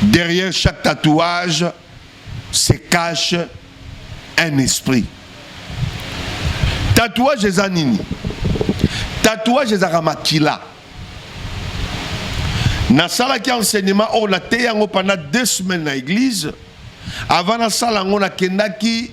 Derrière chaque tatouage se cache un esprit. Tatouage eza nini? Tatouage ezaka makila. nasalaki enseignement oyo nateyi yango pendant deux semaines na église avant nasala yango nakendaki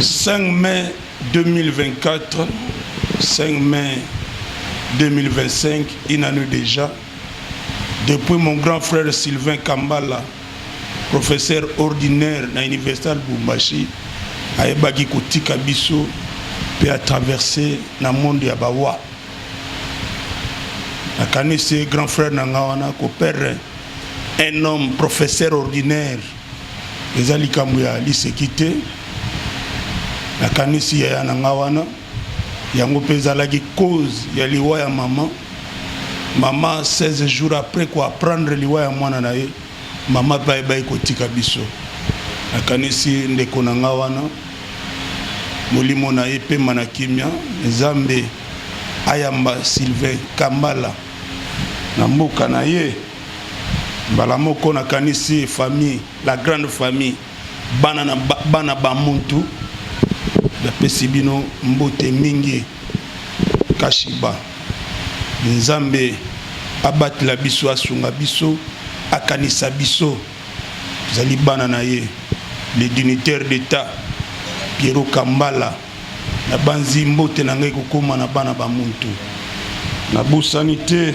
5 mai 2024 5 mai 2025 une année dejà depuis mon grand frère Sylvain Kambala professeur ordinaire na université ya Lubumbashi ayebaki kotika biso mpe atraverse na monde ya bawa nakanisi grand frère na nga wana kopere un homme professeur ordinaire Eza likambo ya liseki te. Nakanisi yaya na nga wana, yango mpe ezalaki cause ya liwa ya mama. Mama 16 jours après ko apprendre liwa ya mwana na ye, mama mpe ayebaki kotika biso. Nakanisi ndeko na nga wana, molimo na ye epema na kimia. Nzambe ayamba Sylvain Kambala na mboka na ye. Mbala moko nakanisi famille, la grande famille, bana na bana ba muntu. Napesi bino mbote mingi. Kashiba. Nzambe abatela biso, asunga biso, akanisa biso. Tozali bana na ye. Le dignitaire d'Etat, Pierrot Kambala. Nabanzi mbote na ngai ekokoma na bana ba muntu. Nabosani te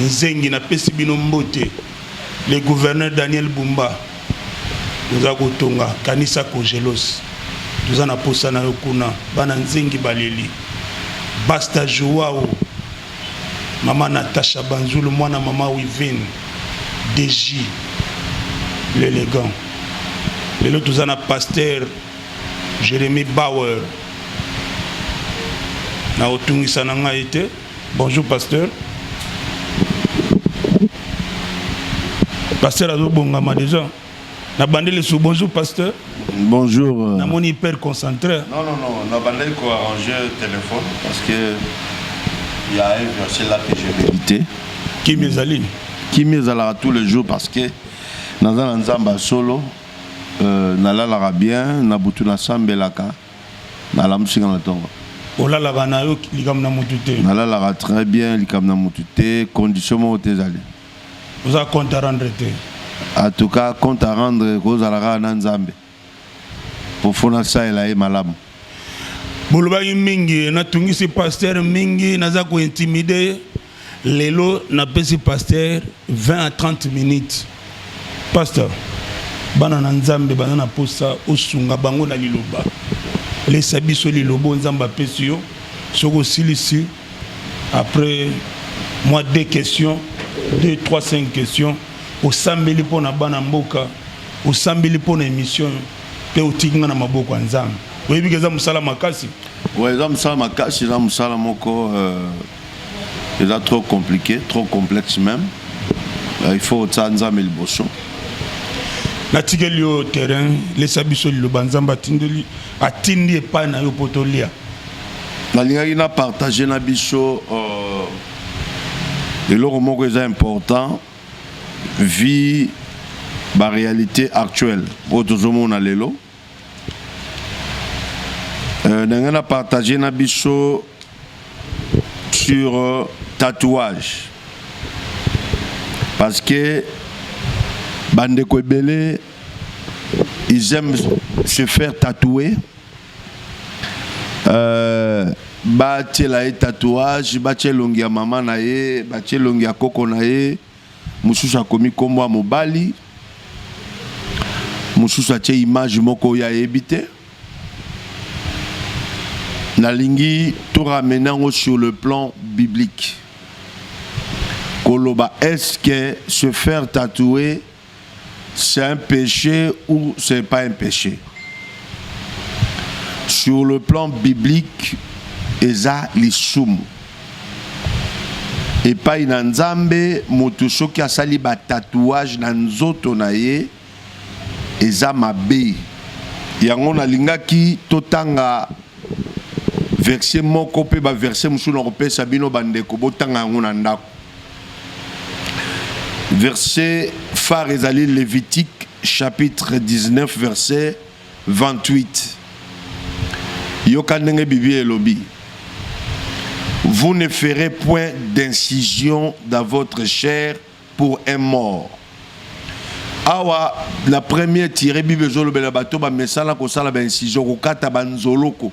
Nzengi na pesi bino mbote le gouverneur Daniel Bumba oza kotonga kanisa Cogelos toza na posa na yo kuna bana nzengi baleli Basta Joao mama Natasha Banzulu mwana mama Wivine DJ l'élégant lelo toza na pasteur Jeremy Bauer na otungisa na ngai te Bonjour pasteur. Pasteur azobongama déjà. Na bandeli sous bonjour pasteur. Bonjour. Euh. Na mon hyper concentré. Non non non, na bandeli ko arranger téléphone parce que il y a un verset là que j'ai médité. Qui mes amis Qui mes à tous les jours parce que dans un ensemble solo euh, nalalaka bien na butu nasambelaka nalamusi nga na ntongo olalaka na yo likambo na motu te nalalaka très bien likambo na motu te condition moko te ezali oza compte à rendre te en tout cas compte à rendre kozala kaka na nzambe mpo fo nasalela ye malamu bolobaki mingi natungisi pasteur mingi naza kointimide ye Lelo na pesi pasteur 20 à 30 minutes. Pasteur, bana na Nzambe bana na posa osunga bango na liloba. Lesa biso lilobo Nzambe apesi yo. Soko silisi après moi deux questions, deux trois cinq questions osambeli mpo na bana mboka, osambeli mpo na émission mpe otiki nga na maboko ya Nzambe. oyebi ke eza mosala makasi eza mosala makasi eza mosala moko euh, eza trop compliqué trop complexe même euh, il faut otya nzambe liboso natikeli yo terrain lesa biso liloba nzambe atindeli atindi epai na yo mpo tolia nalingaki na partage na biso euh, eloko moko eza important vie baréalité actuelle oyo tozomona lelo Euh, ndenge na partage na biso sur euh, tatouage parce que bandeko ebele ils aiment se faire tatouer euh, batiela ye tatouage batia elongi ya mama na ye batia elongi ya koko na ye Mosusu akomi kombo ya mobali, mosusu atie image moko oyo ayebi te. Nalingi to ramener yango sur le plan biblique. Koloba est-ce que se faire tatouer c'est un péché ou c'est pas un péché sur le plan biblique eza lisumu epai na nzambe moto soki asali batatouage na nzoto na ye eza mabe yango nalingaki totanga verse moko mpe baverse mosusu na kopesa bino bandeko botanga yango na ndako Verse phare ezali Levitique chapitre 19 verse 28. Yoka ndenge Biblia elobi. Vous ne ferez point d'incision dans votre chair pour un mort. Awa la première tirée Bible ezolobela bato ba mesala kosala ba incision kokata banzoloko.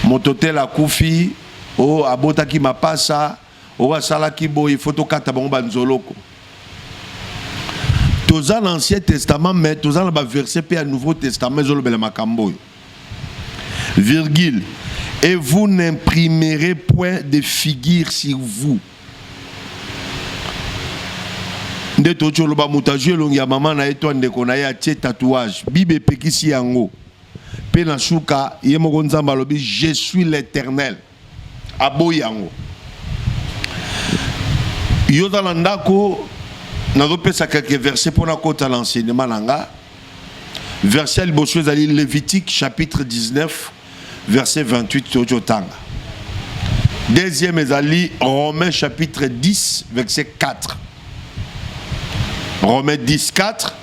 moto tel akufi o oh, abotaki mapasa o oh, asalaki boye fo tokata bango banzoloko toza na ancien testament mais toza na baverse mpe ya nouveau testament ezolobela makambo oyo virgule et vous n'imprimerez point de figure sur vous nde totyoloba moto azwi elongi ya mama na ye to ndeko na ye atie tatouage bible epekisi yango Pe na suka ye moko Nzambe alobi je suis l'Eternel. Aboyi yango. Yo za na ndako nazopesa quelques versets mpo nakota na enseignement na nga verset ya liboso ezali levitique chapitre 19 verset 28 toyoki otanga deuxième ezali romain chapitre 10 verset 4 romain 10 4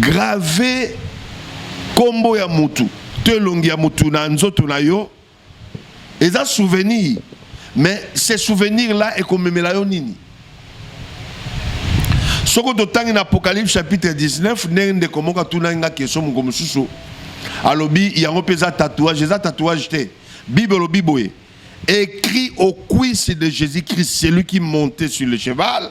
Grave kombo ya mutu to elongi ya mutu na nzoto na yo eza souvenir, mais ce souvenir là ekomemela yo nini? Soko totangi na Apocalypse chapitre 19 ndenge ndeko moko atunaki nga question moko mosusu alobi yango mpe eza tatouage eza tatouage te bible olobi boye écrit au cuisse de jésus-christ celui qui montait sur le cheval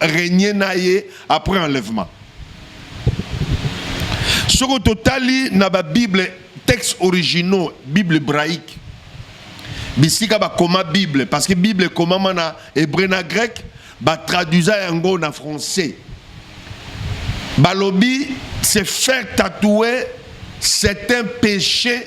règne na ye après enlèvement soko totali na ba bible texte originaux bible hébraïque bisika bakoma bible parce que bible ekomama na hébreu na grec batraduisa yango na français balobi se faire tatouer c'est un péché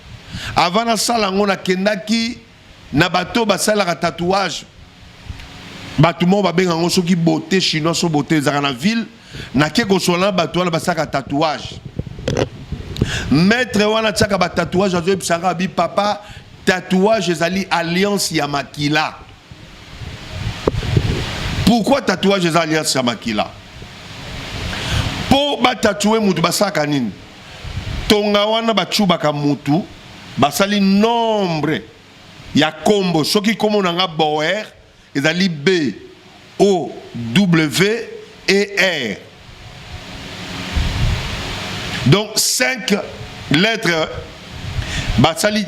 Avant nasala yango nakendaki na bato basalaka tatouage bato moko babenga yango soki bote chinois so bote ezalaka na ville nake kosola na bato wana basalaka tatouage maître wana atiaka batatouage azoyebisa kaka bi papa tatouage ezali alliance ya makila pourquoi tatouage eza alliance ya makila mpo batatue moto basalaka nini Tonga wana ba tshubaka mutu basali nombre ya kombo soki kombo na nga boer ezali b o w e r donc 5 lettre basali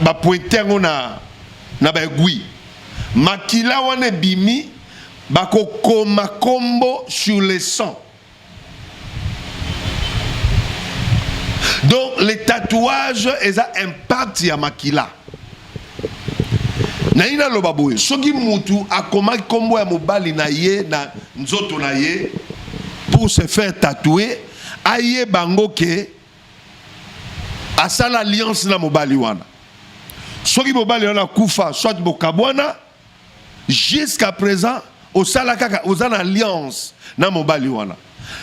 bapointe yango na na baegui makila wana ebimi bakokoma kombo sur le sang donc le tatouage eza impact ya makila nayi naloba boye soki mutu akomaki nkombo ya mobali na ye na nzoto na ye pour se faire tatouer aye bango ke asala alliance na mobali wana soki mobali wana akufa soit bokabwana Jusqu'à présent, osala kaka oza na alliance na mobali wana.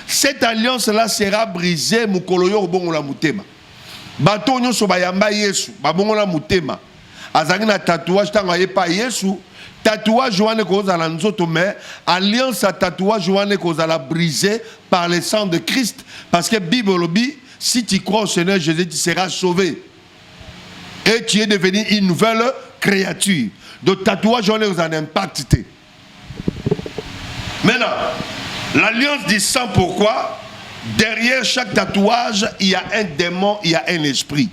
Cette alliance là sera brisée mukolo yo obongola mutema. Bato nyonso bayamba Yesu, babongola mutema. Azangi na tatouage tango ayepa Yesu, tatouage wana ekozala nzoto mais alliance ya tatouage wana ekozala brisée par le sang de Christ parce que Bible olobi si tu crois au Seigneur Jésus tu seras sauvé. et tu es devenu une nouvelle créature de tatouage wana ekozala na impact te maintenant l'alliance du sang pourquoi derrière chaque tatouage il y a un démon il y a un esprit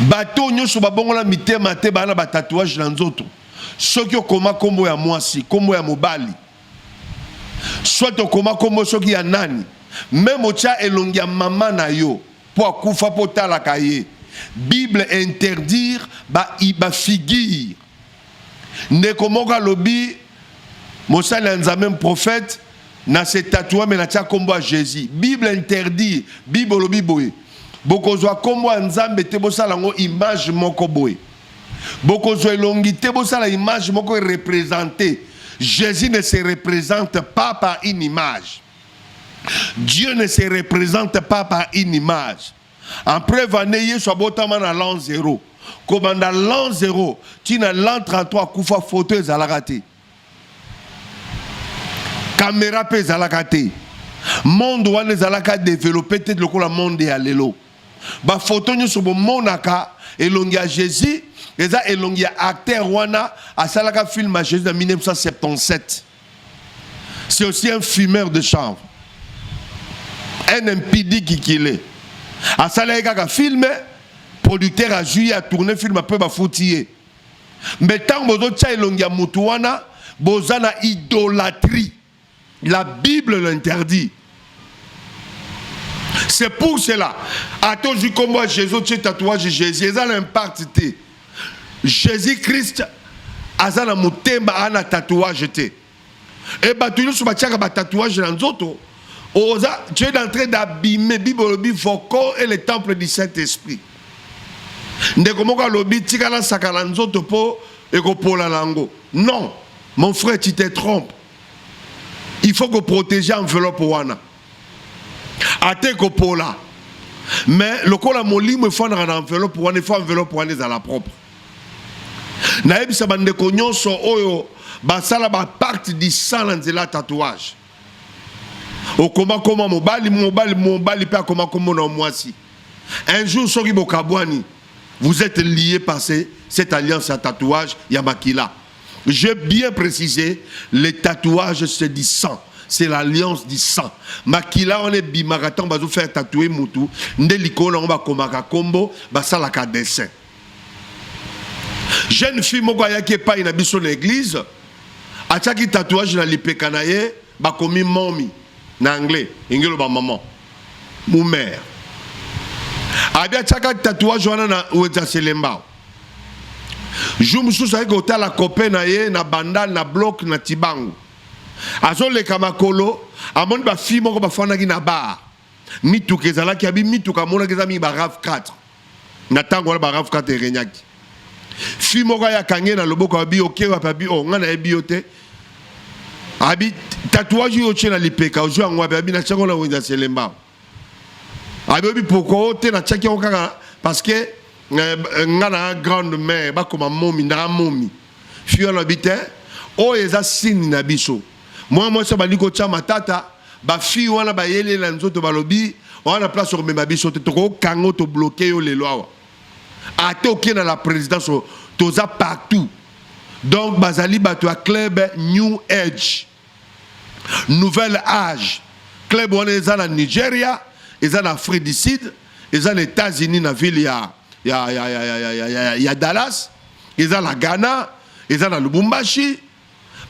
bato nyonso babongola mitema te baa na batatouage na nzoto soki okoma nkombo ya mwasi nkombo ya mobali soit okoma nkombo soki ya nani meme otya elongi ya mama na yo Po akufa po otalaka ye. Bible interdire ba ba figure. Ndeko moko alobi mosali ya Nzambe prophète na se tatoua me natia nkombo ya jesus bible interdire bible olobi boye bokozwa nkombo ya nzambe te bosala yango image moko boye bokozwa elongi te bosala image moko erepresente jesus ne se represente pas par une image Dieu ne se represente pas par une image. En preuve année Yesu abotama na l'an 0. Kobanda l'an 0 tina l'an 33 kufa photo ezalaka te. Kamera pe ezalaka te. Monde wana ezalaka développé te lokola monde ya lelo. Ba photo nyonso bomonaka elongi ya Jésus eza elongi ya acteur wana asalaka film ya Jésus na 1977. c'est aussi un fumeur de chanvre un impidi kikile asalaki kaka filme producteur azwi ye atourne filme mpe bafuti ye mbe ntango bozotya elongi ya motu wana boza na idolatrie la bible l'interdit c'est pour cela ata ozwi nkombo ya jésus otye tatouage jésus eza na impacte te Jesus Christ aza na motema ana tatouage te e bato nyonso batiaka ba tatouage na nzoto oza tu es en train d'abîmer bible olobi vos corps et le temple du saint esprit ndeko moko alobi tika nasakana nzoto mpo ekopola na yango non mon frère tu te trompe il faut koprotege enveloppe wana ata ekopola mais lokola molimo efandaka na enveloppe wana efo enveloppe wana ezala propre nayebisa bandeko nyonso oyo basala bapacte disa na nzela ya tatouage okomakoma mobali mobali mobali mpe akomakoma na mwasi un jour soki bokabwani Vous etes lié par ces, cette alliance à tatouage ya makila. J'ai bien précisé, les tatouages c'est du sang. C'est l'alliance du sang. Makila on est bimaka tant bazo faire tatouer mutu, nde likolo on ba komaka kombo, ba sala ka dessin. Jeune fille moko ayaki epai na biso na église, atiaki tatouage na lipeka na ye, bakomi mommy na anglais, ingelo ba maman. mumer abi atiaka tatouage wana na weza selembao jour mosusu ayaki kotala copain na ye na bandal na bloc na tibangu azoleka makolo amoni bafille moko bafandaki na bar mituka ezalaki abi mituka amonaki eza mingi ba rav 4 na tango wana barafu kata erenyaki fi moko ayakange na loboko abi oke wapi abi o ngai nayebi yo te abi tatouage oyo otye na lipeka ozwi yango wapi abi natyaki yango na wenza selembao abi oyebi pokua o te natyaki yango kaka parce que eh, ngai na grande mère bakoma momi ndaka momi fi wana abi te oyo eza sini na biso mwana mwasi abandi kotya matata Ba fille wana ba yeli na nzoto balobi wana place ko mema biso te toko kango to bloquer yo lelo awa. Ata okie na la présidence toza partout. Donc bazali bato ya club New Age. Nouvelle âge. Club wana eza na Nigeria, eza na Afrique du Sud, eza na États-Unis na ville ya ya ya ya ya ya, ya, ya, ya Dallas, eza na Ghana, eza na Lubumbashi.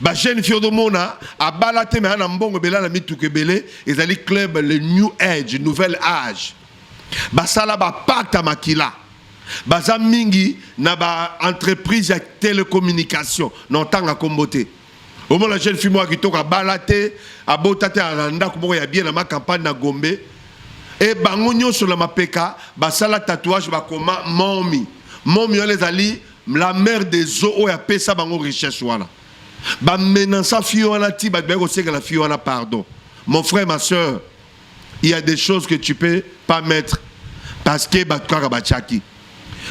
ba jeune fille odomona abala te mais na mbongo ebele na mituka ebele ezali club le new age nouvelle age basala bapata makila baza mingi na ba entreprise ya telecommunication na otanga nkombo te omona jeune fille moko kitoko abala te abota te na ndako moko ya bien na macampagne na gombe e bango nyonso na mapeka basala tatouage bakoma momi momi wana ezali La mère des eaux oyo apesa bango richesse wana ba menaça fille wana ti bato baye kosekela fille wana pardon mon frère ma soeur il y a des choses que tu peux pas mettre parce que bato kaka batiaki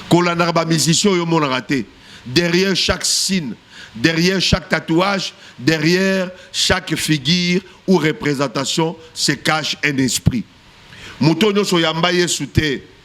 kolandaka bamusicien oyo omonaka te derrière chaque signe derrière chaque tatouage derrière chaque figure ou représentation se cache un esprit moto nyonso oyamba yesu te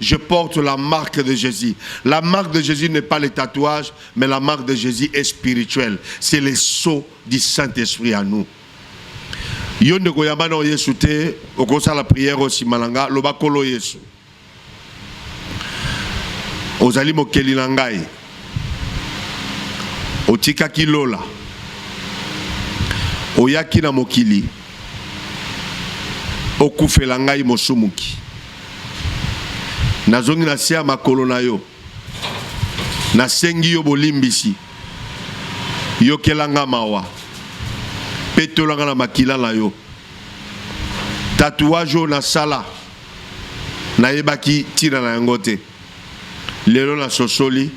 Je porte la marque de Jésus. La marque de Jésus n'est pas le tatouage, mais la marque de Jésus est spirituelle. C'est le sceau du Saint-Esprit à nous. yo ndeko yamba na yesu te okosala priere oyo nsima na nga loba nkolo yesu ozali mokeli na ngai otikaki lola oyaki na mokili okufela ngai mosumuki nazongi na se ya makolo na yo, nasengi yo bolimbisi, yokela nga mawa, petola nga na makila na yo. Tatouage oyo nasala nayebaki ntina na yango te, lelo nasosoli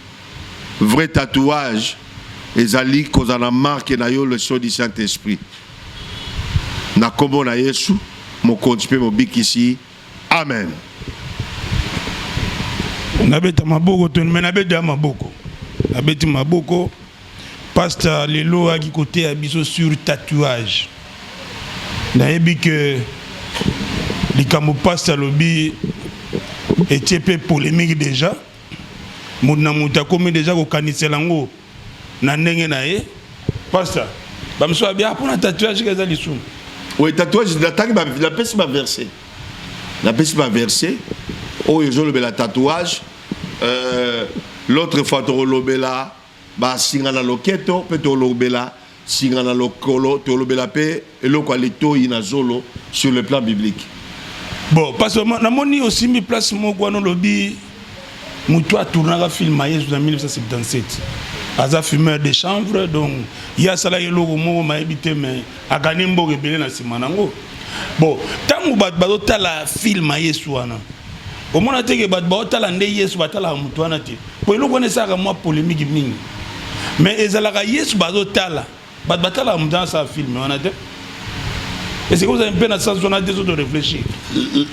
vrai tatouage ezali kozala na marke na yo le sceau du Saint-Esprit. na nkombo na Yesu, Mokonzi mpe Mobikisi. Amen. Nabeta maboko toni, me nabeti ya maboko, nabeti maboko. Pasta lelo ayaki koteya biso sur tatouage. Nayebi ke likambo pasta alobi etie mpe polemique deja. moto na moto akomi deja kokanisela yango na ndenge na ye pasta bamosusu babia mpo na tatouage eza lisumu oyo tatouage natangi napesi baverse napesi baverse oyo ezolobela tatouage euh, l'autre fois tokolobela Ba singa na loketo pe tolobela singa na lokolo, tolobela pe eloko ya litoyi na zolo sur le plan biblique. Bon, parce que namoni osimbi place moko wana olobi moto atournaka film ya yesu na 1977 aza fumeur de chanvre donc ye asalaki eloko moko mayebi te mais akani mboka ebele na nsima nango bon ntango bato bazotala film ya yesu wana omona teke bato baotala nde yesu batalaka moto wana te Po eloko wana esalaka mwa polemique mingi. Mais ezalaka Yesu bazo tala. Bato batalaka moto asala film wana te. Et c'est comme ça un peu na sens wana te zo de réfléchir.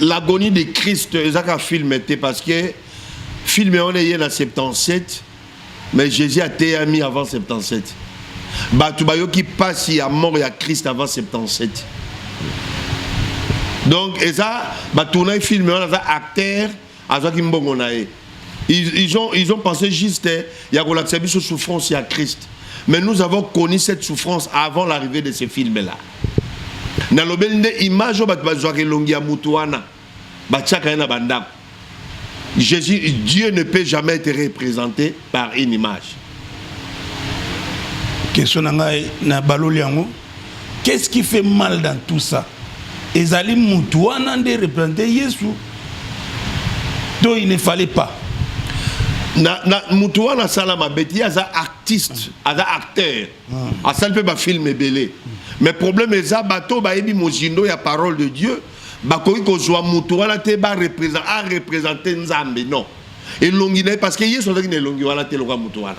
L'agonie de Christ ezaka film te parce que film wana eye na 77 mais Jésus ateyami avant 77. Bato bayoki pasi ya mort ya Christ avant 77. Donc eza ba tournage film wana za acteur azwaki mbongo na ye ils, ils, ont, ils ont pensé juste eh, ya kolakisa biso souffrance ya christ mais nous avons connu cette souffrance avant l'arrivée de ce film là nalobeli nde image oyo bato bazwaka elongi ya moto wana batiaka ye na bandako jésus dieu ne peut jamais être représenté par une image question na ngai na baloli yango Qu'est ce qui fait mal dans tout ça? Ezali mutu wana nde représenter Yesu to il ne fallait pas. Na, na mutu wana asala mabe ye aza artiste aza acteur ah. asali mpe bafilm ebele mais problème eza bato bayebi mozindo ya parole de dieu bakoki kozwa mutu wana te barepresente nzambe non elongi na ye parce que yesu azalaki na elongi wana te lokola mutu wana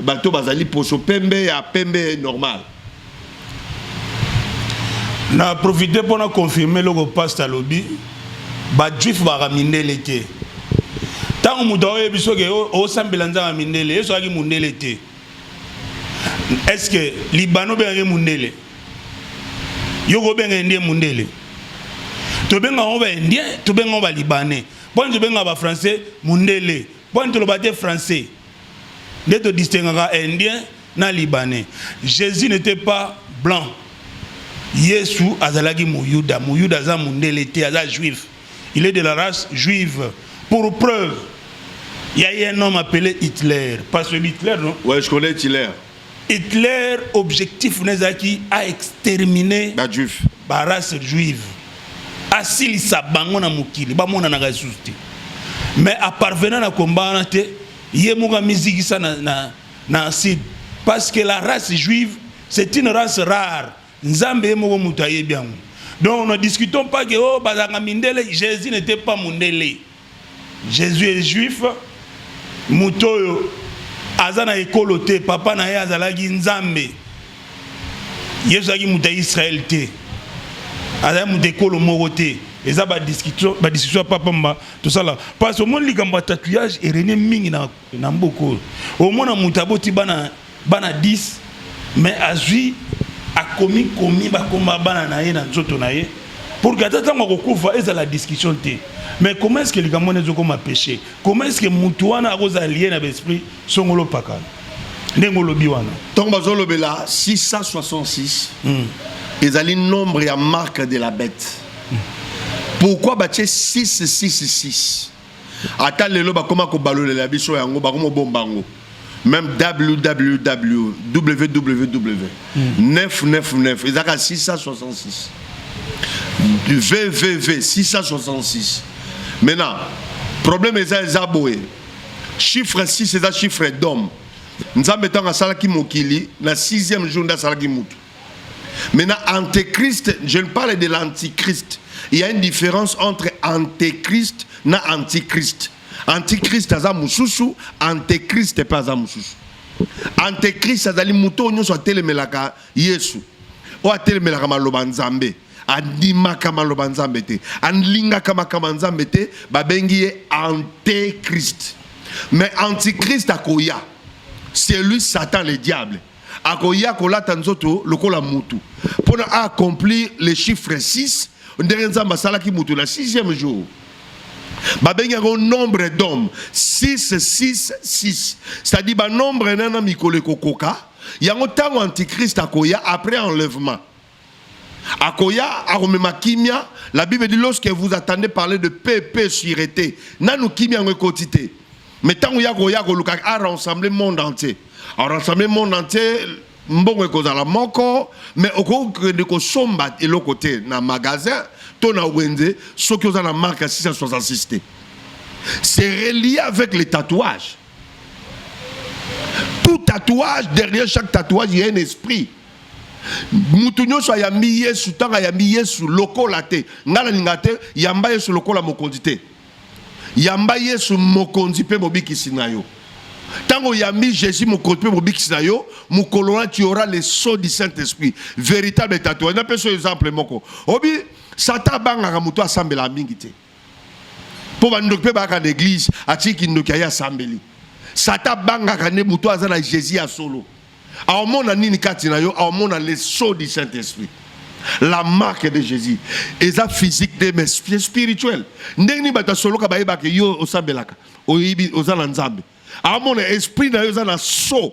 bato bazali poso pembe ya pembe normal na profite mpo na confirme eloko paste alobi bajuif baka mindele te ntango moto aoyebi soki osambela nzanga mindele yesu azalaki mondele te estce libano obengaki mondele yo kobenga indien mondele tobenga yango baindien tobenga yango balibanais mpo nini tobenga bafrançais mondele Boni toloba te français nde to distinguaka indien na libanais. Jesus n'était pas blanc. Yesu azalaki muyuda. Muyuda aza mundele te, aza juif. Il est de la race juive. Pour preuve, il y a un homme appelé Hitler. Parce que Hitler, non? Ouais, je connais Hitler. Hitler objectif na ezalaki a exterminer ba juifs ba race juive asilisa bango na mokili bamonanaka lisusu te mais aparvenant na komba wana te ye moko amizikisa na, na, na sud parce que la race juive c'est une race rare Nzambe ye moko mutu ayebi yango. Donc ne discutons pas que oh bazanga mindele, Jésus n'était pas mundele. Jésus est juif, moto oyo aza na ekolo te, papa na ye azalaki Nzambe. Yesu azalaki moto ya Israël te. Azalaki moto ekolo moko te. Eza ba discussion ba discussion papa mba tosala parce que omoni likambo ya tatouage erene mingi na na mboka oyo omona moto aboti bana bana 10 mais azwi akomi komi bakoma bana na ye na nzoto na ye pour que ata ntango akokufa ezala discussion te mais comment est ce que likambo wana ezokoma péché comment est ce que moto wana akozala liye na baesprit songolo pakana ndenge olobi wana ntango bazolobela 666 mm. ezali nombre ya marque de la bête mm. pourquoi batie 666 ata lelo bakoma kobalolela biso yango bakomobomba yango même www www 999 ezalaka 666 vvv 666 maintenant problème eza eza boye chiffre 6 eza chiffre d'homme nzambe ntango asalaki mokili na 6e jour nde asalaki motu Maintenant, antéchrist, je ne parle de l'antichrist. Il y a une différence entre antéchrist et antichrist. Antichrist aza mususu, antéchrist pas aza mususu. Antéchrist azali moto oyo nyonso atelemelaka Yesu, oyo atelemelaka maloba Nzambe, andimaka maloba Nzambe te, alingaka makambo Nzambe te, babengi ye antéchrist. Mais antichrist akoya, c'est lui Satan le diable. akoya kolata nzoto lokola mutu pona a accomplir le chiffre 6 ndenge nzambe asalaki mutu na 6e jour babengi yango nombre d'homme 6 6 6 c'est-à-dire banombre nana mikolo ekokoka yango ntango antichrist akoya après enlèvement akoya akomema kimia la bible dit lorsque vous attendez parler de paix paix sûreté nanu kimia yango ekoti te mais ntango ya koya akoluka a rassembler monde entier a rassembler monde entier mbongo ekozala moko mais okoki kokende kosomba eloko te na magasin to na wenze soki oza na marque ya 666 te c'est relié avec les tatouages tout tatouage derrière chaque tatouage il y a un esprit mutu nyonso ayambi yesu ntango ayambi yesu lokola te ngai nalinga te yamba yesu lokola mokonzi te yamba yesu mokonzi mpe mobikisi na yo ntango oyambi jésus mokonzi mpe mobikisi na yo mokolo wana tu aura le sceau du saint esprit véritable tatouage napesa yo exemple moko obi satan abangaka moto asambelaka mingi te mpo bandoki mpe bayaka na eglize atie kindoki aye asambeli sata abangaka nde moto aza na jésus ya solo aomona nini kati na yo aomona le sceau du saint esprit la marque de jésus eza physique te mais spirituel ndenge nini bato asoloka bayebaka yo osambelaka oyebi oza na nzambe aomona esprit na yo eza na sceau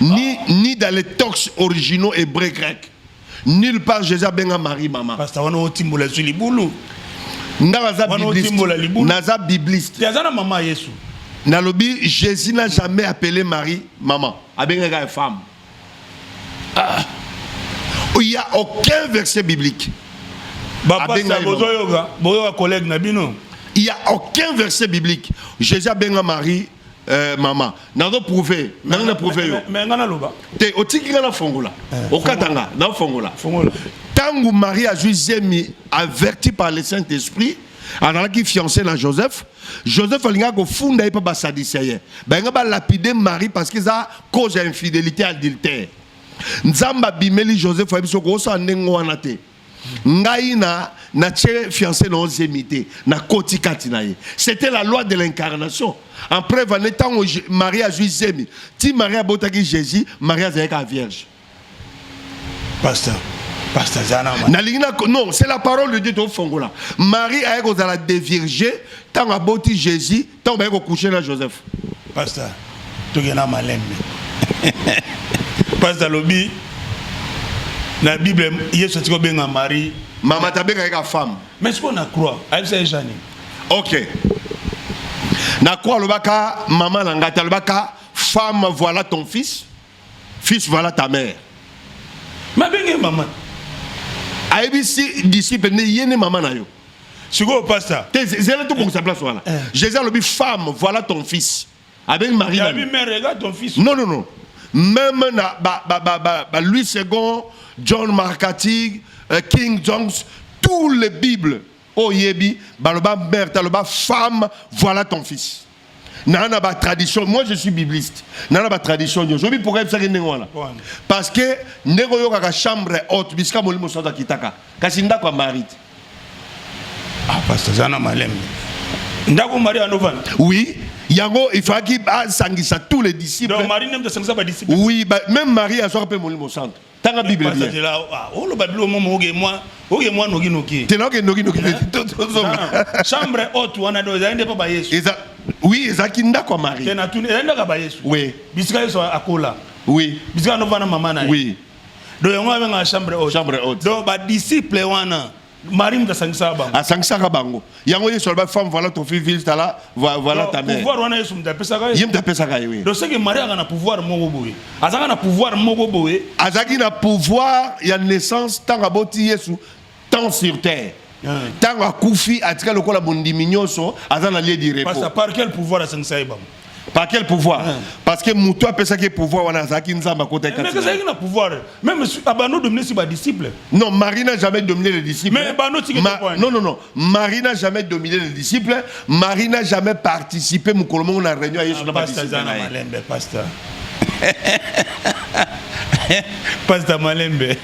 ni, ni dans les tox originaux hébreux grecs. Nulle part Jésus abenga Marie maman. Pasteur wana otimbola sur libulu. Nga naza bibliste. Naza bibliste. Yaza na maman Yesu. Nalobi Jésus n'a jamais appelé Marie maman. Abengaka femme. Ah. Il n'y a aucun verset biblique. Abenga bozoyoka, boyoka collègue na bino. Il n'y a aucun verset biblique. Jésus abenga Marie Eh, mama nazo prouve nani na prouve yo mais nga naloba te otiki nga nafongola eh, okata nga nafongola ntango marie azwi zemi averti par le saint esprit azalaki fiancé na joseph joseph alingaki kofunda ye mpe basadise ye balinga balapide marie parce que eza cause ya infidélité adultère nzambe abimeli joseph ayebi soko osala ndenge wana te ngai na natie fiancé na oziemi te nakoti kati na ye c'était la loi de l'incarnation en preuve ane ntango marie azwi zemi ti marie abotaki jésus marie azalaki a vierge pasteur nalingi non c'est la parole de dieu tofongola marie aye kozala devierge ntango aboti jésus Tango baye ko coucher na Joseph. Pasteur, tokena malembe. Pasteur lobi na Bible Yesu atiko benga Marie. Mama tabenga yeka femme. Mais ce qu'on a croit, ayebisa ejani. OK. Na croix alobaka mama na ngata alobaka femme voilà ton fils. Fils voilà ta mère. Ma benge maman. Ayebisi disciple ne yene maman na yo. Sikoyo pasta. Te zela to bongisa place wana. Eh. Jésus alobi femme voilà ton fils. Avec Marie. La mère regarde ton fils. Non non non. Même na ba ba ba ba, ba Louis II, John Markatig, euh, King Jones, tous les bibles oyebi baloba mère taloba femme voilà ton fils. na na ba tradition moi je suis bibliste na na ba tradition nyo zobi pourquoi ebisaki ndenge wana parce que ndenge oyokaka chambre haute bisika molimo santu akitaka kasi ndako ya mari te ah pasteur aza na malembe ndako mari anovanda oui yango ifaki asangisa tous les disciples oui ba, même marie azwaka mpe molimo santu tanga bible bien tela ah, oh, oloba bilo momo oge mwa oge mwa noki noki tela oge noki noki eh? chambre haute wana do ezali nde mpo ba yesu eza oui ezalaki ndako ya marie tena tuni ezali ndako ya ba yesu oui bisika yesu akola oui bisika novana mama na ye oui do yango abengaka chambre haute chambre haute donc badisciple wana Marie mutu asangisaka bango. Asangisaka bango. Yango Yesu alobaki femme voilà ton fils ville tala voilà ta mère. Pouvoir wana Yesu mutu apesaka ye. Ye mutu apesaka ye oui. Donc c'est que Marie aka na pouvoir moko boye. Azaka na pouvoir moko boye. Azaki na pouvoir ya naissance tanga boti Yesu tant sur terre. Tanga akufi atika lokola bondimi nyonso aza na lieu du repos. Parce par quel pouvoir asangisa ye bango? Par quel pouvoir hein? Parce que mutu apesaki pouvoir wana azalaki nzambe akota kati. Mais azalaki na pouvoir. Même abano dominer si ba disciples. Non, Marie n'a jamais dominé les disciples. Mais abano tiki Ma... Non non non, Marie n'a jamais dominé les disciples. Marie n'a jamais participé mukolo mongo na réunion Yesu ah, na ba disciples. Pasteur Zana Malembe, pasteur. pasteur Malembe.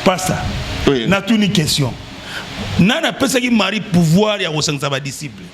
pasteur. Oui. N'a tout une question. Nana pesaki Marie pouvoir ya kosangisa ba disciples.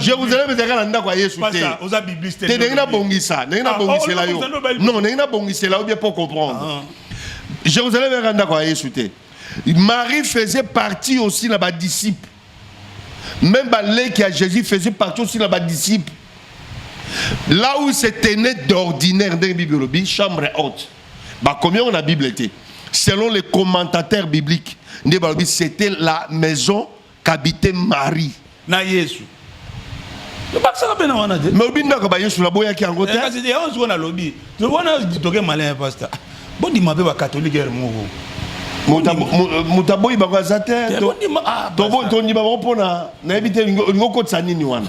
jerusalem ezalaka na ndako ya yesu te te ndenge nabongisa ndenge ah, nabongisela oh, yo non ndenge nabongisela yo bien po comprendre ah. jerusalem ezalaka ndako ya yesu te marie faisait partie aussi na badisciple même baleki ya jésus faisait partie aussi na badisciple là où se tenait d'ordinaire ndenge bible olobi chambre haute bakomi yango na bible te selon les commentateurs bibliques nde balobi c'était la maison kabite mari na yesu bakisaka mpe na wana te mais obindaka bayesu naboyaki yango eh, te kasi yango sikoyo nalobi wana toke malin ya pasta bondima mpe bakatolike ere moko moto aboyi bango aza te tondima bango mpona nayebi te olingi okotisa nini wana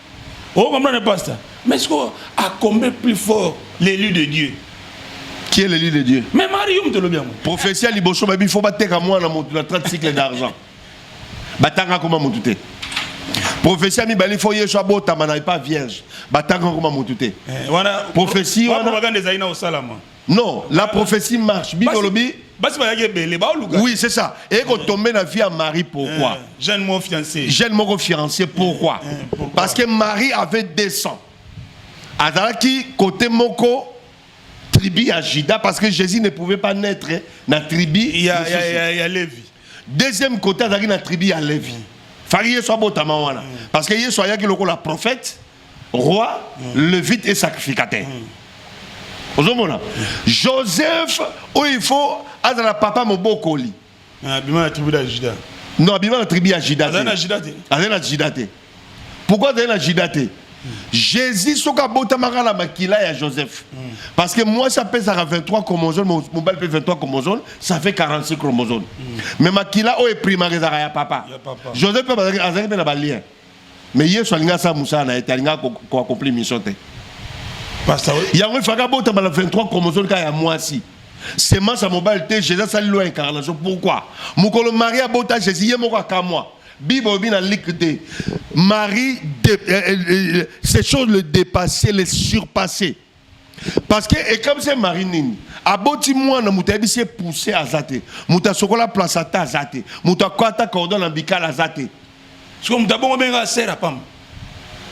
Oh, comprendre, pasteur Mais ce qu'on a combé plus fort l'élu de Dieu Qui est l'élu de Dieu Mais Mario, tu le bien. Prophétie à Libocho, il faut battre à moi dans la 30 cycles d'argent. Batanga comme mon tout prophétie ami bali faut yesu abotama na pas vierge batanga comme mon tout prophétie wana propagande ezali na osalama Non, la prophétie marche. Bino lobi. Basi bayaki ebele baoluka. Oui, c'est ça. Et qu'on tombe na vie à Marie pourquoi? Eh, jeune mon fiancé. Jeune mon fiancé eh, pourquoi? Parce que Marie avait 200. Adalaki côté moko tribu à Judas parce que Jésus ne pouvait pas naître na tribu. Il y a, y a, y a Lévi. Deuxième côté adalaki na tribu à Lévi. Fari Yesu abotama wana. Mm. Parce que Yesu ayaki lokola prophète. roi mm. levite et sacrificateur mm. ozomona mm. joseph oyo il faut azala papa mobokoli ah, abima na tribu ya juda non abima na tribu ya juda azali na juda te azali na juda te pourquoi azali na juda te jésus soki abotamaka na makila ya joseph parce que mwasi apesaka 23 chromosome mobali mpe 23 chromosome ça fait 46 chromosome mais makila oyo eprimaka ezalaka ya papa joseph mpe azalaki mpe na balien mais yesu alingi asala mosala na ye te alingi koaccomplir mission te yango efaka abotama na 23 chromosome kaka ya mwasi semence ya mobali te jésus asali loi ya incarnation pourquoi mokolo marie abota jésus ye moko akamwa bible obi na like te marie de, euh, euh, euh, ces choses le dépasser les surpasser parce que ekamwisi ye mari nini aboti mwana moto ayebisi ye pousse aza te moto asokola place ata aza te moto akwata cordon na bikala aza te siko moto abongo benga asera pamba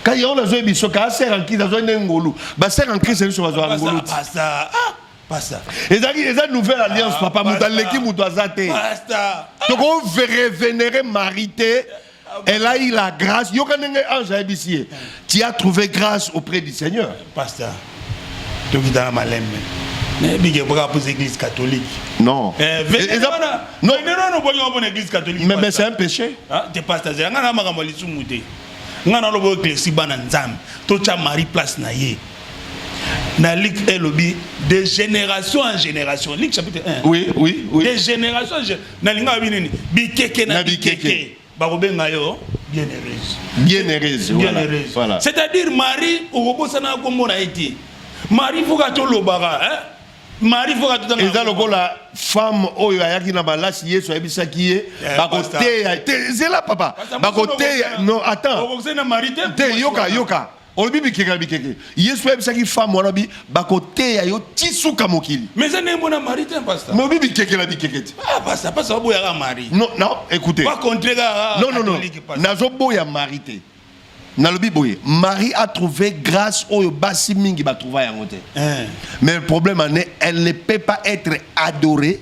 kai yango nazoye biso ka asera en crise azoye nde ngolu basera en crise biso bazwa ngolu pasta ezalaki eza nouvelle alliance ah, papa moto aleki moto aza te tokoverevenere mari te Elle a eu la grâce. Yokanenge ange abisiye. Tu as trouvé grâce auprès du Seigneur. Pasteur. Tokitana malembe. Nabike baka pour l'église catholique. Non. Eh, venez non non non boyo pour l'église catholique. Mais mais c'est un péché. Ah, t'es pasteur. Nga na makambo lisumu te. Nga na lobo eklesi bana nzambe. To cha Marie place na ye. na Luc elobi de génération en génération Luc chapitre 1 oui oui oui de génération en génération nalingaka bi nini bikeke na bikeke bakobenga yo bien heureuse bien heureuse bien heureuse voilà c'est à dire marie okobosana kombo na ye te marie foka tolobaka hein marie foka totanga eza lokola femme oyo ayaki na malasi yesu ayebisaki ye eh, bakoteya zela papa bakoteya non attends te yoka yoka olobi bikeke na bikeke yesu ayebisaki femme wana bi bakoteya yo ti suka mokili mais eza ndenge mona mari te pasta mais obi bikeke na bikeke te ah pasta pasta baboyaka mari non non écoutez pas contre ga non non non nazoboya mari te nalobi boye marie a trouvé grâce oyo basi mingi batrouva yango te eh. mais le problème en est elle ne peut pas être adorée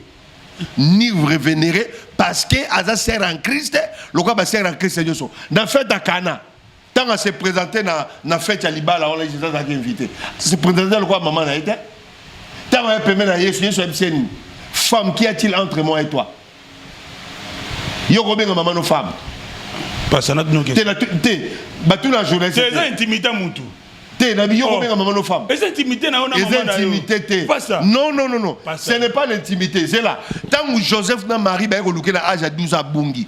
ni révénérée parce que aza sœur en christ lokola basœur en christ nyonso na fête ya kana Tant à se présenter na, na fête ya libala wana Jésus azalaki invité. Se présenter lokola maman na ye te. Ntango aye pembeni na Yesu, Yesu ayebisi ye nini? Femme, qu'y a-t-il entre moi et toi? Yo kobenga maman no femme. Pasana bino ke. Te na te batu na journaliste. Te eza intimité mutu. Te na yo oh. kobenga maman no femme. Eza intimité na yo na maman na yo. Eza intimité te. Pasa. Non non non non. Ce n'est pas l'intimité, c'est là. Tangu Joseph na Marie ba ko lukela âge à 12 ans bungi.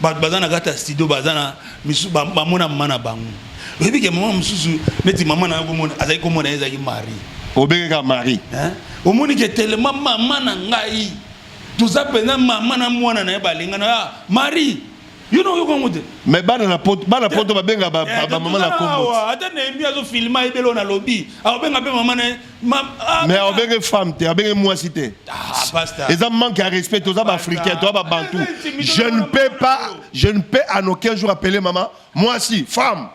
bato baza na kati ya studio baza na misu bamona mama na bango oyebi ke mama mosusu neti mama na yango mona azali komona ye ezalaki marie obenge kaka marie omoni ke telema mama na ngai toza mpenza mama na mwana na ye balingana ya ah, marie yo na oyoka yango te mais bana na poto bana poto babenga bamama eh, na kombo ata nehemi azofilma ye belo nalobi akobenga mpe mama na ye Ah, mais obenge femme te abenge mwasi te ah, eza manque ya respect toza baafricain toza babantu je ne peux pas je ne peux en aucun jour appeler mama mwasi femme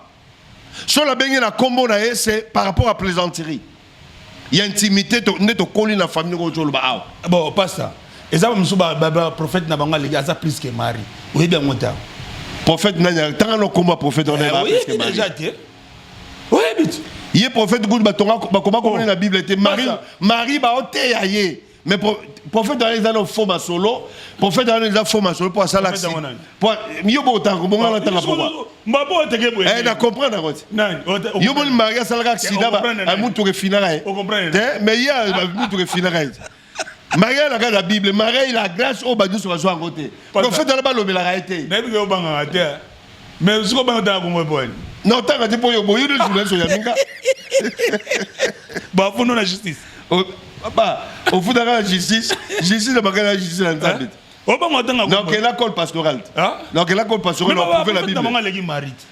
so nabengi na nkombo na ye se par rapport à plaisanterie ya intimité nde tokoli na famille oyo toloba awa ah, bon pasta eza mosusu baprophète na bango aleki aza plus que mari oyebi yango ta prophète nani tanga na nkombo ya prophète wana eh, eza plus que mari oyebi ye prophète kutu batonga bakoma komona na bible te marie marie baoteya ye mais prophète wana eza na faux masolo prophète wana eza faux masolo mpo asala aksi mpo yo botanga kobonga na tanga pokwa na comprendre yango te yo moni marie asalaka aksida mutuka efinaka ye te mais ye mutuka efinaka ye te maria elaka na bible maria ila grace oyo bato nyonso bazwa yango te profete wana balobelaka ye te nayebi ke obangaka te mais soki obanga tala kongo epoani na otanga te mpo yo boyi de journaliste oya minga bafundo na justice papa ofutaka na justice justice na bakala na justice na nzambe te obanga otanga donc ela cole pastoral te donc ela cole pastoral oprouve la bible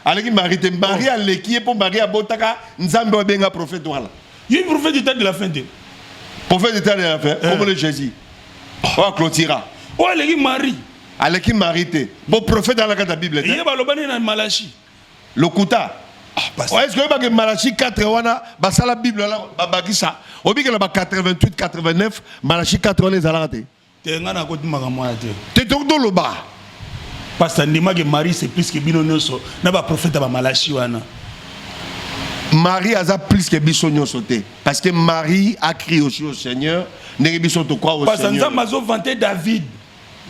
aleki mari te mari aleki ye mpo mari abotaka nzambe oyo abenga profete wana Il y a une prophète du temps de la fin. Prophète du temps de la fin, comme le Jésus. Oh, clôtira. Oh, elle est Marie. Elle est Marie. Bon prophète dans la carte de la Bible. Il y a Balobani dans Malachi. Lokuta. Oh, est-ce que que Malachi 4 wana basala Bible là babakisa obikela ba 88 89 Malachi 4 wana ezalaka te Te nga na koti makambo wana te. Te to to loba. Pasta ndima ke Marie c'est plus que bino nyoso na ba prophète ba malachi wana. Marie aza plus que biso nyoso te parce que Marie a crié aussi au Seigneur ndenge biso to kwa au Seigneur. Pasta nzamba zo vanter David.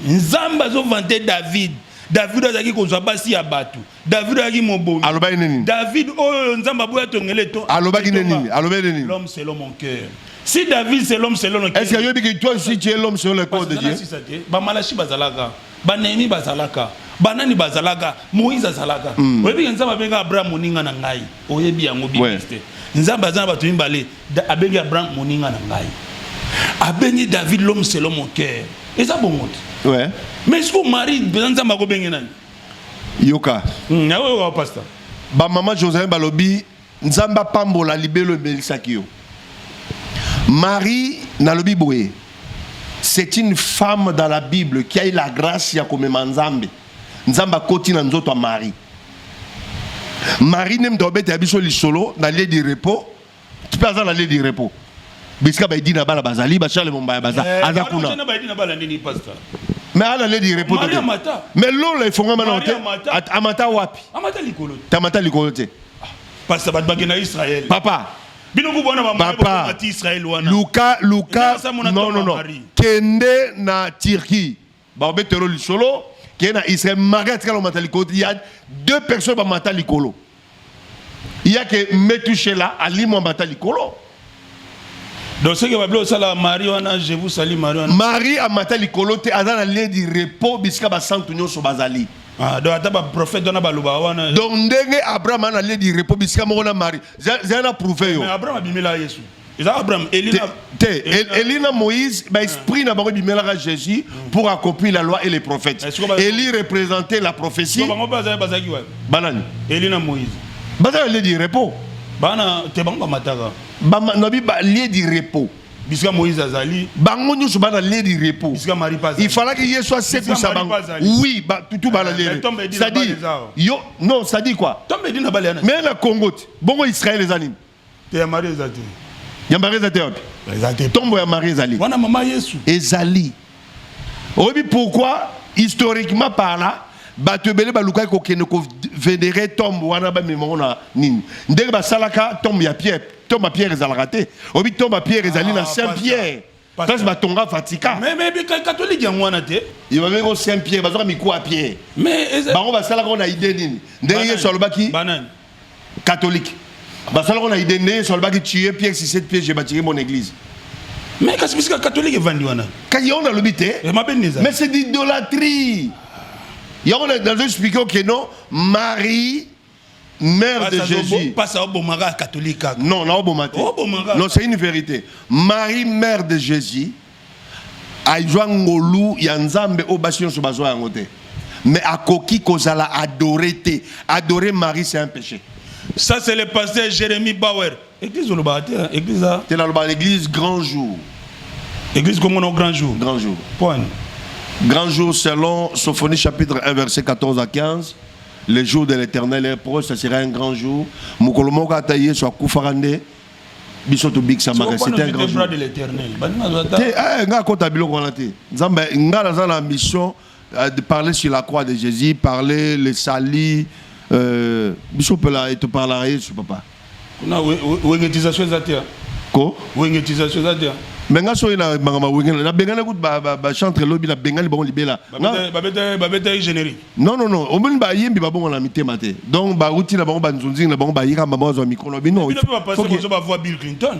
Nzamba zo vanter David. David azalaki kozwa basi ya bato David ayaki mobomi. Alobaki nini? David oyo Nzambe aboya tongele to. Alobaki nini? Alobaki nini? L'homme selon mon cœur. Si David c'est l'homme selon le cœur. Est-ce que yobi que toi aussi tu es l'homme selon le cœur de Dieu? Ba malachi bazalaka, ba Néhémie bazalaka, ba nani bazalaka, Moïse azalaka. Hmm. Oyebi que Nzambe abenga Abraham moninga na ngai. Oyebi yango bibiste. Nzambe azana bato mibale, abengi Abraham moninga na ngai. Abengi David l'homme selon mon cœur. Eza bongo. Ouais. Mais est-ce que Marie, Nzambe akobenge nani? yoka hmm, nayoka pasta bamama joselin balobi nzambe apambola libelo emelisaki yo marie nalobi boye c'est une femme dans la bible qui a eu la grâce ya komema nzambe nzambe akoti na nzoto ya marie marie nde moto abeta ya biso lisolo na lie du repos Tipe aza na lieu du repos. Bisika ba Edina bala bazali, ba Charles Mombaya baza, eh, aza kuna. Ana ba Edina bala nini pasteur? Mais ala lieu du repos. Maria Mata. Mais lola efongama na hote. Amata wapi? Amata likolo. Tamata likolo te. Ah, pasteur bat bagena Israël. Papa. Bino ku bona ba Papa. Israël wana. Luka, Luka. Non, non, non. Kende na Turquie. bakobetelo lisolo ke na israel mari atikala komata likolo ya deux personnes bamata likolo yake metushela alimwa mata likolo donc soki babili osalaka mari wana je vous sali mari wana mari amata likolo te aza na lieu du repos bisika basantu nyonso bazali Ah, donc ata baprofete wana baloba wana donc ndenge abraham ana lieu du repos bisika moko na mari zana prouve yo abraham abimela yesu eza abraham elina te, te elina moïse ba esprit na bango bimelaka jésus pour accomplir la loi et les prophètes eh, eli représenter la prophétie bango bazali bazaki wapi banani elina moïse bazali lieu du repos bana te bango bamataka na bi ba lieu du repos bisika moïse azali bango nyonso bana lieu du repos bisika marie pas il fallait que yesu asekwisa bango oui ba tutu bana eh, lieu c'est-à-dire yo non c'est-à-dire quoi mais na congo bongo israël ezali te ya marie eza te ya marie eza te wapi eza te tombo ya marie ezali wana mama yesu ezali oyebi pourquoi historiquement par là bato ebele balukaki kokende kovenere tombe wana bamema yango na nini ndenge basalaka tombe ya pierre tombe ya pierre ezalaka te oyebi tombe ya pierre ezali na ah, saint pierre place batonga vatican catholique yango wana te ebabeki o saint pierre bazoka mikuwa ya pierre bango basalaka na ide nini ndenge yesu alobaki catholique basalaka na ide nde yesu alobaki tue pierre sisete piège batiki mon église mais kasi bisika catholique evandi wana kasi yango nalobi te eh, mais c'est d'idolatrie yango nazo explike oke non marie Mère de Jésus. Pas ça obomaka catholique. Non, na obomate. Obomaka. Non, c'est une vérité. Marie mère de Jésus aizwa ngolu ya Nzambe o basi nyonso bazwa yango te. Mais akoki kozala adoré te. Adorer Marie c'est un péché. Ça c'est le pasteur Jérémie Bauer. Église olobaka te, hein? église eza Te nalobaka l'église grand jour. Église Congo na grand jour. Grand jour. Point. Grand jour selon Sophonie chapitre 1 verset 14 à 15. Le jour de l'éternel est proche, ça sera un grand jour. Mokolo moko ata Yesu akufaka nde biso tobikisamaka c'est un grand jour. de l'éternel. Te, eh, nga akota biloko wana te. Nzambe, nga naza na mission Euh, de parler sur la croix de Jésus, parler le salut. Euh, biso pela et tu parleras Yesu papa. Kuna wengetisation zatia. Ko? Wengetisation zatia. Mais nga soyi na mangama wengela na bengana kut ba ba, ba chantre lobi na bengali bango libela. Babeta babeta babeta générique. Non non non, omoni ba yembi ba bongo na mitema te. Donc ba uti na bango ba nzunzi na bango ba yika ba bango zo micro na bino. Bino ba passer ba voix Bill Clinton.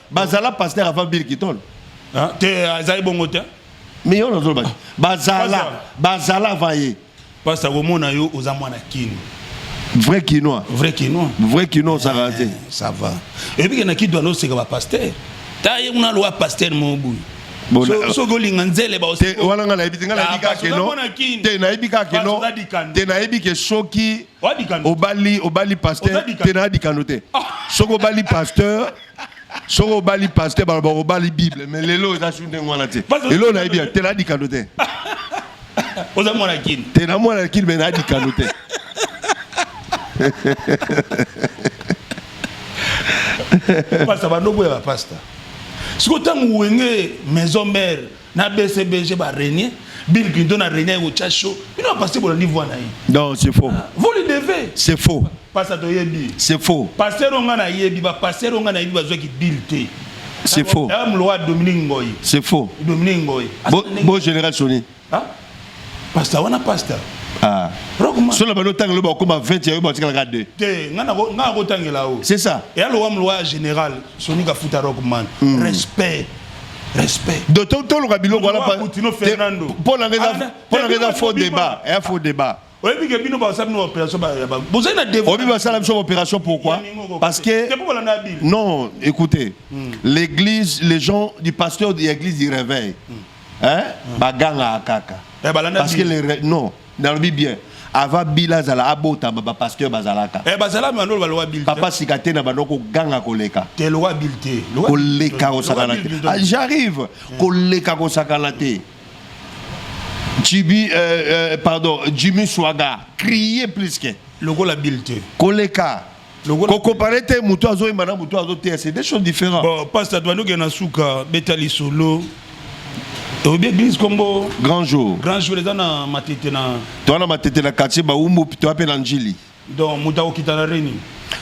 Bazala pasteur avant Bill Kiton. Hein? Te azali bongo te. Mais yo nazo ba. Bazala, bazala va ye. Pasta komona yo oza mwana kino. Vrai kinois. Vrai kinois. Vrai kinois ça va. Eh, ça va. Et puis na kidwa no seka ba pasteur. Ta ye muna loi pasteur mo boye. Euh, soki olinga nzele wana nga nayebi te nga nayebi kaka keno te nayebi kaka keno te nayebi ke soki obali obali pasteur te nayadikano te ah. soki obali pasteur soki obali paster baloba obali bible mais lelo eza su ndenge wana te lelo nayebi ya te nadikano te oza mwana kini te na mwana kini me nadikano te pasta bandoboya bapasta sikoyo ntango wenge maison mare na BCBG ba régner Bill Clinton a régner au chacho bino a passer bolandi voix na ye non c'est faux ah, vous le devez c'est faux pasa to yebi c'est faux pasteur onga na yebi ba pasteur onga na yebi bazwa ki Bill te c'est faux dame loi Dominique Ngoy c'est faux Dominique Ngoy bon bon général Sony hein Pasta wana pasta. Ah. Rockman. Solo bano tanga loba okoma 20 yayo batikala ka 2. Te, nga nako nga ko tangela o. C'est ça. Et alo wam loi général Sony Kafuta Rockman. Mm. Respect. Respect. Doto tolo kabilo wala pa. Tino Fernando. Pona ngeza pona ngeza faux débat. Un faux débat. oyebi ke bino basala bino opération ya bango bozali na devoir oyebi basala biso opération pourquoi parce que non écoutez hmm. l'église les gens du pasteur de l'église du réveil hmm. hein hmm. baganga kaka eh, parce que les non nalobi bien ava bila azala abotama bapasteur bazalaka eh, papa sika te na bando koganga koleka koleka kosakana te ah, j'arrive koleka kosakana te JB, euh, euh, pardon, Jimmy Swaga, crier plus que. Lokola Bill te. Koleka. Lokola... Kokompare te moto azoyemba na moto azoteya, c'est des choses différentes. Bon, pasteur Douane oke na suka, beta lisolo. oyebi église kombo grand jour grand jour eza na matete na toa na matete na quartier baumbu toa mpe na njili donc moto akokita na reni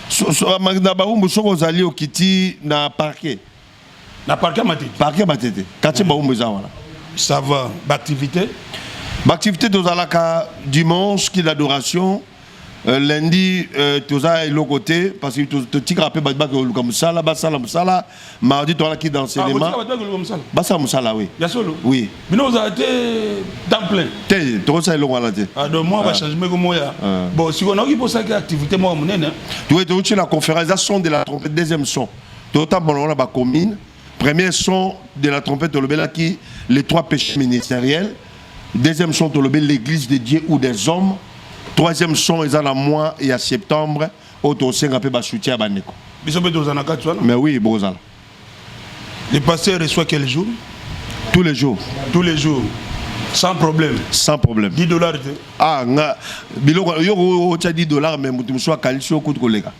so, so, na baumbu soki ozali okiti na parquet Na parc ya Matete. Parc ya Matete. Quartier Baumbu eza wana. Ça va. Ba activité? Ba activité tozalaka dimanche qui l'adoration. Euh, lundi euh, toza eloko te parce que totikaka mpe bato bakoluka mosala basala mosala mardi toala ki dans cinéma ah, basala mosala oui oui bino ozala te temps plein te tokosala eloko wana te ah, donc mwa bachangement ah. ko moya bon sikoyo naoki mpo osalaki activité moko monene toye toyoti na conférence eza son de la trompette deuxième son totambola ngo na ba commune premier son de la trompette tolobelaki les trois péchés ministériels deuxième son tolobeli l'église de dieu ou des hommes troisième son eza na mois ya septembre oyo tosenga mpe basoutien ya bandeko biso mpe tozala na kati wana mais oui bozala le pasteur reçoit quel jour tous les jours tous les jours sans problème sans problème 10 dollars te ah nga biloko yo otya 10 dollars mais moto mosusu akanisi yo kutu koleka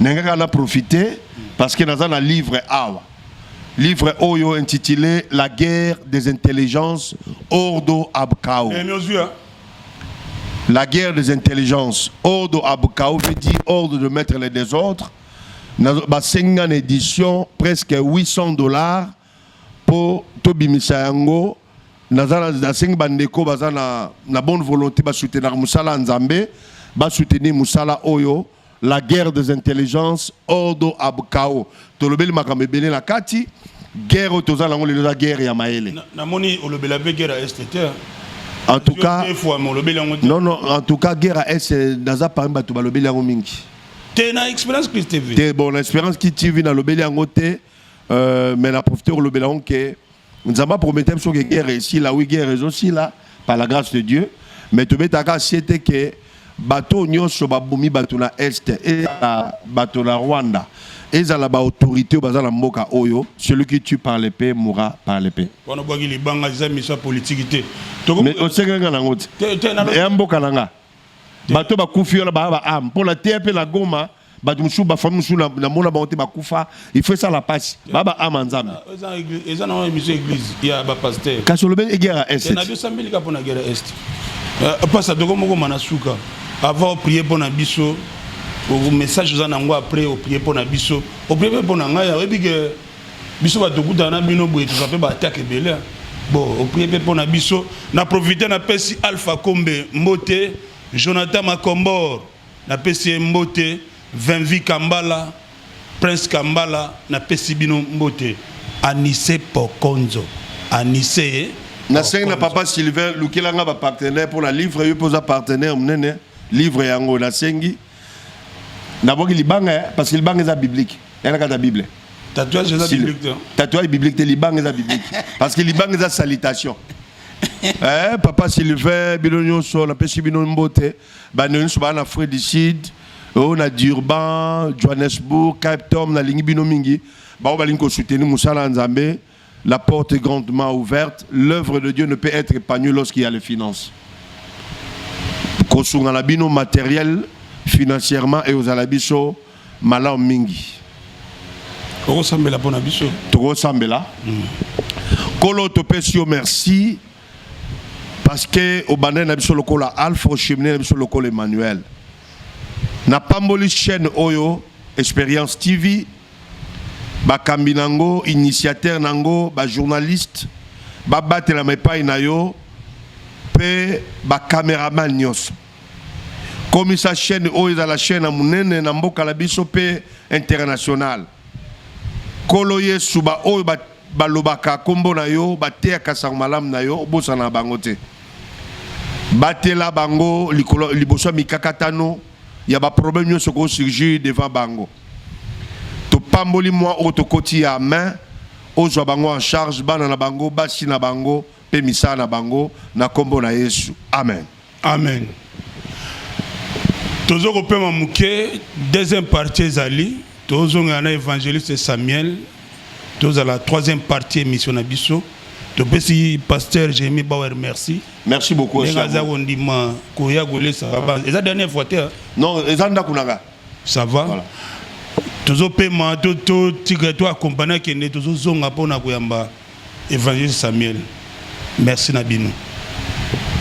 ndenge kaka na profite parce que naza na livre awa livre oyo intitulé la guerre des intelligences ordo abkao eh, hein? la guerre des intelligences ordo abkao veut dire ordre de mettre les désordres basengi nga na édition presque 800 dollars po to bimisa yango naza nasengi ba ndeko baza na na bonne volonté ba soutenir musala ya Nzambe ba soutenir musala oyo la guerre des intelligences ordo ab chaos tolobeli makambo ebele na kati guerre toza nango lelo eza guerre ya mayele namoni olobela pe guerre ya est te en tout cas non non en tout cas guerre à est naza parmi bato balobeli yango mingi te na expérience christ tv te bon na expérience ki tv nalobeli yango te Euh, mais na profiter kolobela yango ke nzambe apromete biso ke guerre esila wi guerre ezosila par la grâce de dieu mais tobetaka sie te ke bato nyonso babomi bato na est ezala bato na rwanda ezala baautorité oyo baza na mboka oyo celui qui tue par l'épée mourra par l'épée wana bwaki libanga eza miso ya politiki te osengeli nga nango te ya mboka na nga bato bakufi wana baa baame mpo na te mpe na goma bato mosusu bafami mosusu namona bango te bakufa ifo esala mpasi baba ama nzambe eza na émission église ya bapaster kasi olobeli egere ya est na biosambeli ka mpo na gere ya est eh, pasa toko moko mana suka avant oprie mpo na biso message oza na yango après oprie mpo na biso oprie mpe mpo na ngai oyebi ke biso bato okutana na bino boye toza mpe baatake ebele bon oprie mpe mpo na biso na profite napesi alpha kombe mbote jonathan macombor Napesi ye mbote Vinvi Kambala, Prince Kambala napesi bino mbote Anise Pokonzo Anise Nasengi na papa Sylvain lukela nga ba partenaire mpo na livre yo mpe oza partenaire monene livre yango nasengi nabwaki libanga eh, parce que libanga eza biblique elaka ta bible tatouage eza biblique te tatouage biblique te libanga eza biblique parce que libanga eza salutation eh papa Sylvain bino nyonso napesi bino mbote bande nyonso baa na frais du sud oyo oh, na durban johannesburg cape town nalingi bino mingi baoyo balingi kosoutenir mosala ya nzambe la porte est grandement ouverte l'œuvre de dieu ne peut être épanouie lorsqu'il y a les finances kosunga na bino matériel financièrement ekozala biso malamu mingi okosambela mpo na biso tokosambela mm. kolo topesi yo merci Parce que obandani na biso lokola Alpha ochemine na biso lokola Emmanuel. Na pamboli chaîne oyo Experience TV bakambi nango initiateur nango ba journaliste babatelama epai na yo mpe bacameraman nyonso komisa chaîne oyo ezala chaîne ya monene na mboka na biso mpe internationale Nkolo Yesu, baoyo balobaka nkombo na yo, bateyaka nsango malamu na yo, obosana na bango te. Batela bango likolo, liboso ya mikakatano ya baproblème nyonso ko surgir devant bango. Topamboli mwa oyo tokoti ya main, ozwa bango en charge, bana na bango, basi na bango, Mpe misala na bango na nkombo na Yesu. Amen. Amen. Tozo kopema moke, deuxième partie ezali tozongela na évangéliste Samuel tozala troisième partie émission na biso topesi pasteur Jérémie Bauer merci merci beaucoup ndenge aza kondima koya kolesa eza dernière fois te hein? non eza ndako na nga ça va voilà. tozopema totika to accompagne akende tozozonga mpo na koyamba Evangeliste Samuel merci na bino.